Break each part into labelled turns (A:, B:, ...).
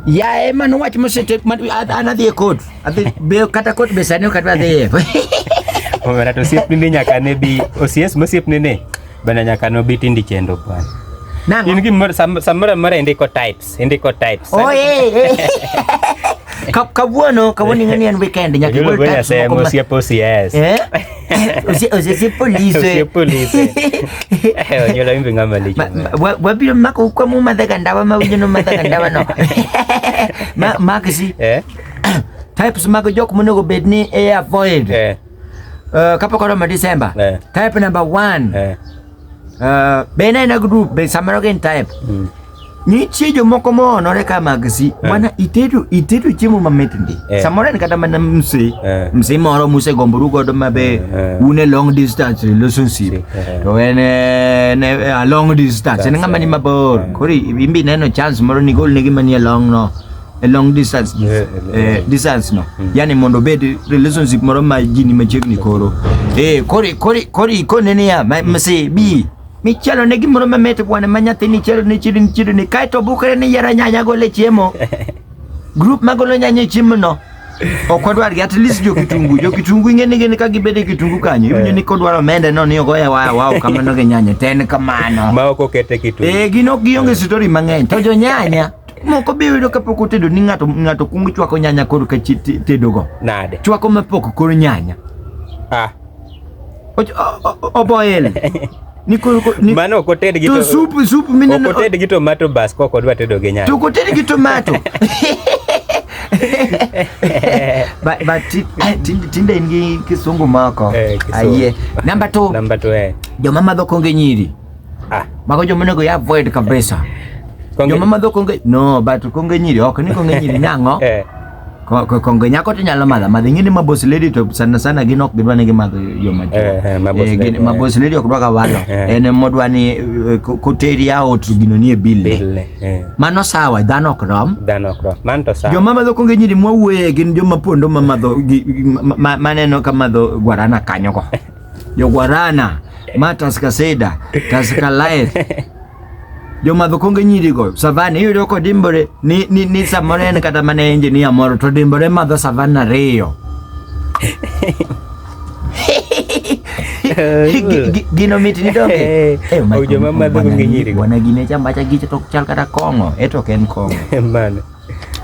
A: Yaye mano wach mosete an adhi e kot. Adhi be kata kot be sani ok adhi. Omera to osiepni ni nyaka ne bi osies mosiepni ni bana nyaka no bi tindi chendo bwana. Nango. In gimoro samoro amora indiko types, indiko types. Oh eh. eh. Kawuono, kawuono ing'e ni en weekend nyaka igol types moko. Osiep osies. Eh? oze polise onyola imbe ngama lecho wabilo mako kwa mu madhaga ndawa mawinyo no madhaga ndawa no makisi eh? types mako jok monego bed ni e avoid eh. uh, kapok oromo December eh. type number one Uh, bende ina group be samaro gen time mm. nitie jomoko moonore ka magsi eh. mana itedo itedo chiemo mamit ndi eh. samoro en kata mana mse eh. mse moro musegomboru godo mabe eh, eh. un e long distance relationship eh. to en eh, ne, eh, a long distance en ng'ama ni mabor eh. koro imbi neno chance moro ni golnegi manie long no e long distance yeah, eh, distance no mm. yani mondo bed relationship moro ma ji ni machiegni koro eh kori kori kori kone ne ya ma mm. se bi mi chalo ne gimoro ma mete bwana ma nyathi ni chalo ne chiri ni chiri ni kai to bukre ni yara nyanya go le chiemo group ma golo nyanya e chiemo no ok wadwar gi at least jo kitungu jo kitungu ing'e ni gin ka gibede kitungu kanyo iwinjo ni eh. kodwaro mende no ni ogoya waya wao kamano gi nyanya ten kamano ma ok okete kitungu eh gin ok gionge story mang'eny to jo nyanya Moko be yudo kapok otedo ni ng'ato ng'ato kuongo chwako nyanya koro ka chi- te- tedogo. Nade? Chwako mapok koro nyanya. Ah, Och- o- o- Oboil. Ni koro ko- ni mano ok oted gi to to supu supu ok mineno. oted gi tomato bas kok odwa tedo gi nyanya. To koted gi tomato. But but ti- eh, tinde tinde in gi kisungu moko. Eh, kisungu. Ayie. Number 2. Namba to eh. Joma madho konge nyiri. Ah. Mago joma onego ya avoid kabisa. Konge- Joma madho konge no but konge nyiri ok ni konge nyiri nang'o. Eh, Ko- ko- Konge nyako to nyalo madho madho ing'e ni ma boss lady to sana sana gin ok gidwa ni gimadho yo ma Eh, eh, ma boss lady, eh. ma boss lady ok dwa ka walo Eh. en modwa ni eh, ko- koteri aot to gino nie bill. bille. Eh, Mano sawa dhano ok rom. dhano ok rom. Man to sawa. Joma madho konge nyiri mwawuoye gin joma pondo ma madho gi- gi- ma- ma- maneno ka madho guarana kanyo go. jogwarana ma taska seda taska lae jomadho konge nyirigo savan iyudo kodimbore ni, ni, ni samoro en kata mana enginia moro to dimbore madho savan ariyo Gi- gi- gino mit ni donge Eh, Eh, ma- joma madho konge nyirigo. bwana gine chambacha gicho to chal kata kong'o eto ok en kong'o Mano.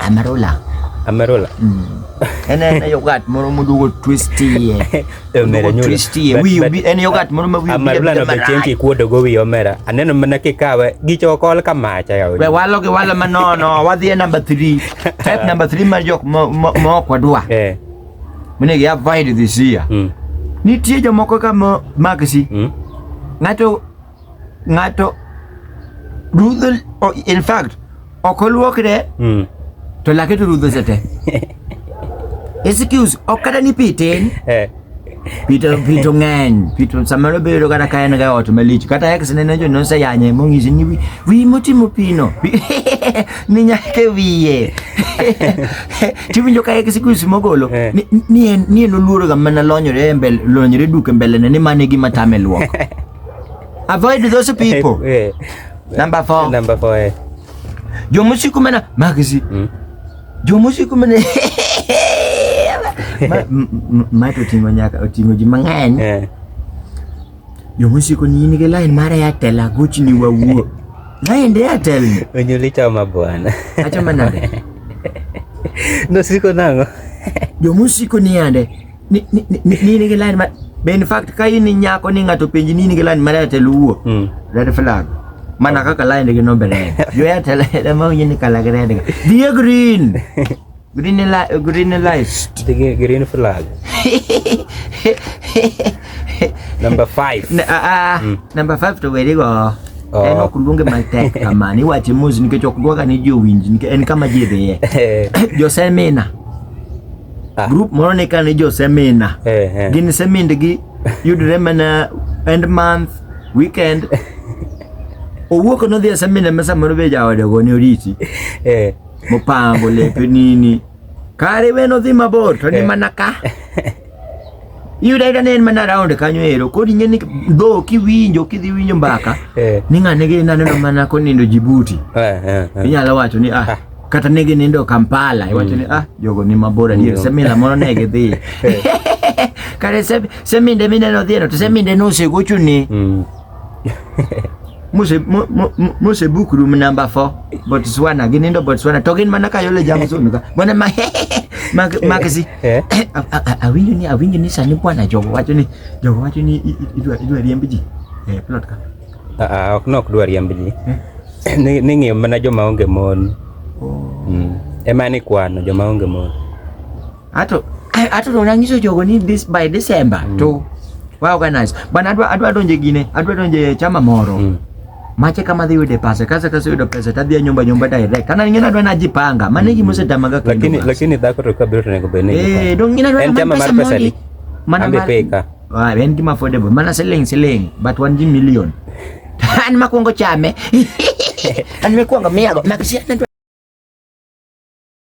A: Amarola. Amarola. Mm. en en yogat moro modugo twistie e omera nyulo twistie wi en yogat moro ma wi amarula no be chenki kuodo go wi omera aneno mana kikawe gicho kol ka macha ya we walo gi walo ma nono wadhi e number 3 type number 3 mar jok ma ok wadwa eh mine gi avoid this year mm. nitie jomoko ka ma magsi mm. ngato ng'ato rudho o- in fact ok oluokre Mm. to lake to rudho sete excuse ok kata ni pi tin Eh. pito pito ng'eny pito samoro bedo kata ka en ga ot malich kata ex ne ne jo nonse yanye mong'isi ni wi wi motimo pino ni nyake wiye tiwinjo ka ex kusi mogolo Eh. ni ni en ni en oluoro ga mana lonyore e mbele lonyore duke mbele ne ni mane gima tame luok Avoid those people. Eh. Number four. Number four. Eh. Jomusi kumena magzi. Mm. Jomusi kumena ma to tingo nyaka otingo ji mang'eny. Eh. Jomusi ko ni in gi line mara ya tela guchi ni wawuo. Line de ya tel. Onyuli chama bwana. Achama nade. No siko nango. Jomusi ko ni ande. ni ni ni ni ni gilan ma be in fact ka in nyako ni ng'ato penji ni ni gilan ma lete luwo Mm. red flag mana kaka lain gi nombe lain yo ya tele da ma yin kala gre daga dia green green la green light Dige green flag. Number five. Na- ah, ah, Mm. number 5 to weri go Oh. en ok luonge matek kamani wache mos nikech ok dwaga ni jowinj nikech en kama ji dhiye josemina ah. group moro ni kane jo semina eh, eh. gin semindgi yudre mana end month weekend owuok nodhi e semina ma samoro be jaode go ne oriti eh. mopango lepe nini kare we nodhi mabor to ni eh. mana ka iyudo ayuda ne en mana round kanyo ero kodi ing'e ni dho kiwinjo kidhi winjo mbaka eh. ni ng'ane gi naneno mana konindo jibuti inyalo wacho ni ah, ah. kata ne ginindo Kampala iwacho ni ah jogo ni mabor adier Mm. semina moro ne gidhi kare se- seminde mineno dhieno to seminde nosegochuni Mm. mose mo- mo- mo- mose book room number 4 Botswana ginindo Botswana to gin mana kayole Jameson ka bwana ma Mak- makisi Eh. A- a- a- awinjo ni awinjo ni sani bwana jogo wacho ni jogo wacho ni i- i- idwa idwa riemb ji eh plot ka Ah, ok nok dwa riemb ji hmm? ni ni ng'iyo mana joma onge mon oh. mm. ema ni kwano joma onge mon ato ato to nanyiso jogo ni this by December mm. to wa organize bana adwa adwa donje gine adwa donje chama moro mm. mache kama dhi yude pesa kasa kasa yudo pesa tadhi nyumba nyumba direct kana ngina dwa najipanga maana hiki mose tamaga kwa lakini lakini dhako to kabiro tunakobeneza eh dongina dwa pesa mali mana mali Ah, en gima affordable mana siling siling but wan ji million an makwongo chame an mikwongo miyago makisiana